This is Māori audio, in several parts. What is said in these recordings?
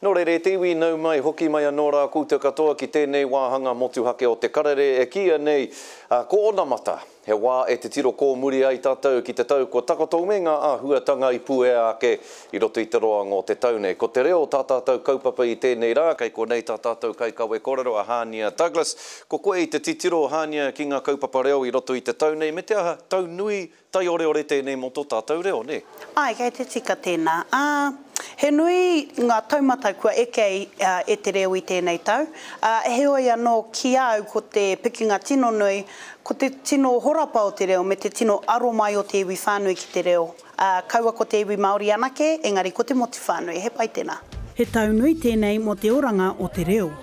Nō reira e te iwi nau mai, hoki mai anō rā koutou katoa ki tēnei wāhanga motuhake o te karere e kīia nei, ā, ko onamata. He wā e te tiro kōmuri ai tātou ki te tau kua takoto me ngā āhuatanga i puea ake i roto i te roanga o te tau nei. Ko te reo tā tātou kaupapa i tēnei rā. Kei konei tā tātou kaikawe kōrero a Hānia Douglas. Ko koe i te titiro, Hānia, ki ngā kaupapa reo i roto i te tau nei, me te aha, tau nui, Taioreore tēnei mō tō tātou reo, nē? Āe, kei te tika tēnā. Ā, he nui ngā taumata kua eke e te reo i tēnei tau, ā, heoi anō ki a au ko te pikinga tino nui, ko te tino horapa o te reo me te tino aro mai o te iwi whānui ki te reo. Ā, kaua ko te iwi Māori anake, engari ko te motu whānui. He pai tēnā. He tau nui tēnei mō te oranga o te reo.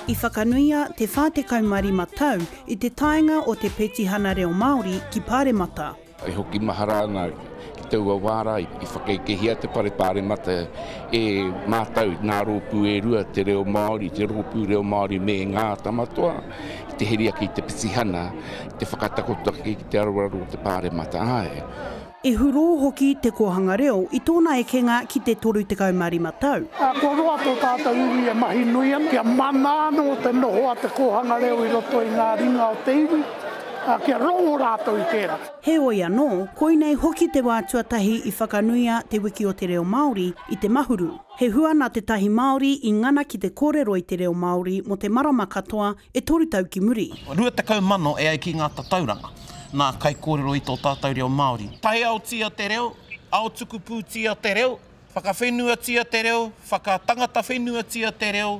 I whakanuia te 45 tau I te taenga o te Petihana Reo Māori ki Pāremata. E hoki mahara ana ki taua wā rā, i whakaekehia te Whare Pāremata e mātou ngā rōpū e rua, te reo Māori, te Rōpū Reo Māori me Ngā Tamatoa, ki te heri ake i te petihana, ki te whakatakoto ake ki te aroaro o te Pāremata. Āe. I hurō hoki te kōhanga reo i tōna ekenga ki te 35 tau. Kua roa tō tātou iwi e mahi nui ana kia mana anō te noho a te kōhanga reo i roto i ngā ringa o te iwi, ā, kia rongo rātou i tērā. Heoi anō, koinei hoki te wā tuatahi i whakanuia Te Wiki o te Reo Māori i te Mahuru. He hua nā te tahi Māori i ngana ki te kōrero i te reo Māori mō te marama katoa E toru tau ki muri. Rua tekau mano e ai ki ngā tatauranga, nā, kaikōrero i tō tātou reo Māori. Taiaotia te reo, aotukupūtia te reo, whakawhenuatia te reo, whakatangatawhenuatia te reo,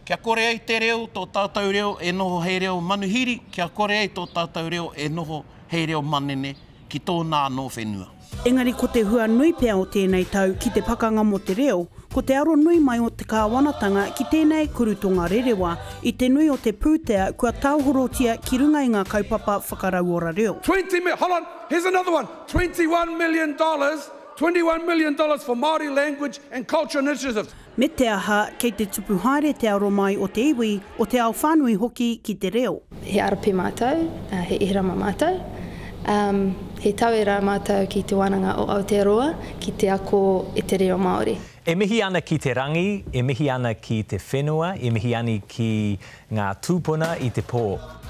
kia kore ai te reo, tō tātou reo, e noho hei reo manuhiri, kia kore ai tō tātou reo e noho hei reo manene. ki tōna anō whenua. Engari ko te hua nui pea o tēnei tau ki te Pakanga mō te Reo, ko te aro nui mai o te kāwanatanga ki tēnei kuru tongarerewa i te nui o te pūtea kua tāhorotia ki runga i ngā kaupapa whakarauora reo. Twenty mi, hold on, here's another one, twenty one million dollars, twenty one million dollars for Māori language and culture initiatives. me te aha, kei te tupu haere te aro mai o te iwi, o te ao whānui hoki ki te reo. He Arapi mātou, he Ihirama mātou, he tawe rā mātou ki Te Wānanga o Aotearoa ki te ako i te reo Māori. E mihi ana ki te rangi, e mihi ana ki te whenua, e mihi ani ki Ngā tūpuna i te pō.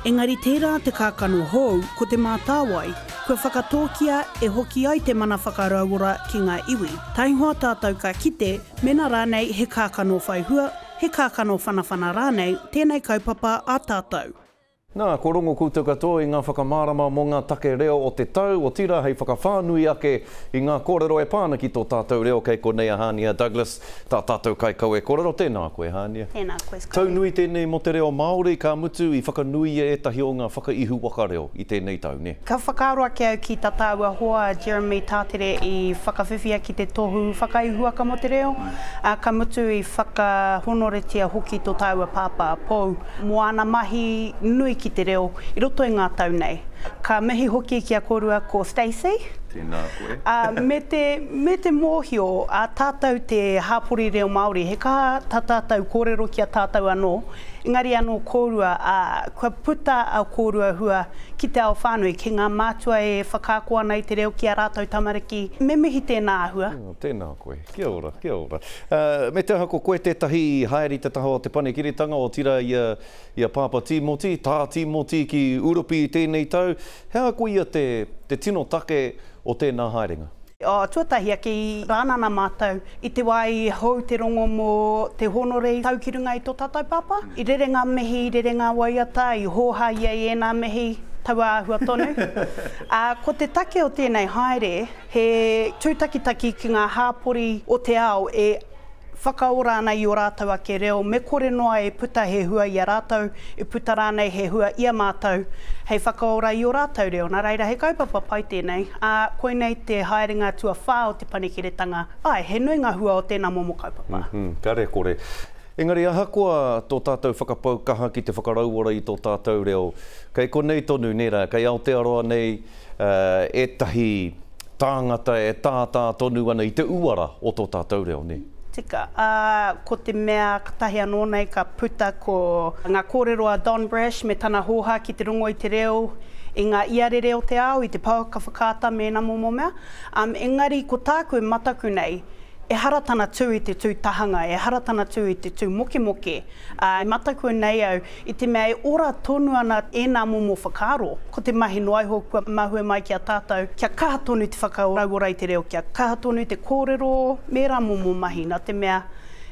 Engari tērā te kākano hou, ko Te Mātāwai, kua whakatōkia e hoki ai te mana whakarauora ki ngā iwi. Taihoa tātou ka kite, mēnā rānei he kākano whai hua, he kākano whanawhana rānei tēnei kaupapa a tātou. Nā, kua rongo koutou katoa i ngā whakamārama mō ngā take reo o te tau, otirā hei whakawhānui ake i ngā kōrero e pā ana ki tō tātou reo kei konei a Hānia Douglas. Tā tātou kaikawe kōrero tēnā koe Hānia. Tēnā koe Scully. Taunui tēnei mō te reo Māori, ka mutu i whakanuia ētahi o ngā whakaihuwaka reo i tēnei tau, nē? Ka whakaaro ake au ki tā tāua hoa a Jeremy Tātere i whakawhiwhia ki te tohu whakaihuwaka mō te reo, ā, ka mutu i whakahonoretia hoki tō tāua pāpā Pou mō āna mahi nui ki te reo i roto i ngā tau nei. Ka mihi hoki ki a kōrua ko Stacey. Tēnā. ā, me te, me te mōhio ā tātou te hāpori reo Māori, he kaha tā tātou kōrero ki a tātou anō, engari anō kōrua, ā, kua puta a kōrua hua ki te ao whānui, ki ngā mātua e whakaako ana i te reo ki ā rātou tamariki, me mihi tēnā āhua. Ō, tēnā koe. Kia ora, kia ora. Ā, me te aha ko koe tētahi i haere i te taha o te panekiretanga, otirā ia I a Pāpā Tīmoti, tā Tīmoti ki Uropi i tēnei tau, he aha koia te, te tino take o tēnā haerenga? Ā, tuatahi ake i Rānana mātou i te wā i hou te rongo mō te hōnore tau ki runga i tō tātou Pāpā. I rere ngā mihi, i rere ngā waiata, i hōhā ia i ēnā mihi, taua āhua tonu. Ā, ko te take o tēnei haere, he tūtakitaki ki ngā hāpori o te ao e whakaora ana i ō rātou ake reo, me kore noa e puta he hua i a rātou, e puta rānei he hua i a mātou, hei whakaora i ō rātou reo. Nā reira, he kaupapa pai tēnei, ā, koinei te haerenga tuawhā o Te Panekiretanga. Āe, he nui ngā hua o tēnā momo kaupapa. Ka rekore. Engari ahakoa tō tātou whakapau kaha ki te whakarauora i tō tātou reo, kei konei tonu, nē rā, kei Aotearoa nei ētahi Tāngata e tātā tonu ana i te uara o tō tātou reo, nē. Tika, ā, ko te mea katahi anō nei ka puta ko ngā kōrero a Don Brash me tana hōha ki te rongo i te reo i ngā iarere o te ao, i te pouaka whakaata mēnā momo mea. Engari ko tāku e mataku nei, ehara tana tū i te tū tahanga, ehara tana tū i te tū mokemoke, ā, e mataku nei au, I te mea e ora tonu ana ēnā momo whakaaro, ko te mahi noa iho kua mahue mai ki a tātou kia kaha tonu te whakarauora i te reo, kia kaha tonu te kōrero me ērā momo mahi, nā te mea,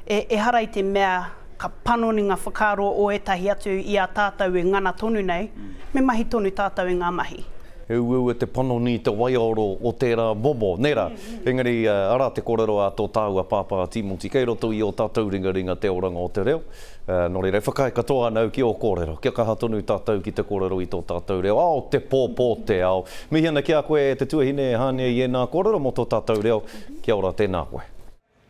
ehara i te mea ka panoni ngā whakaaro o ētahi atu i a tātou e ngana tonu nei, me mahi tonu tātou i ngā mahi. He uaua te panoni i te waiaoro o tērā momo, nē rā? Engari, arā te kōrero a tō tāua pāpā a Tīmoti, kei roto i ō tātou ringaringa te oranga o te reo. Nō reira, e whakaae katoa ana au ki ō kōrero, kia kaha tonu tātou ki te kōrero i tō tātou reo. Ao te pōpō te ao. Mihi ana ki a koe e te tuahine e hānea i ēnā kōrero mō tō tātou reo. Kia ora, tēnā koe.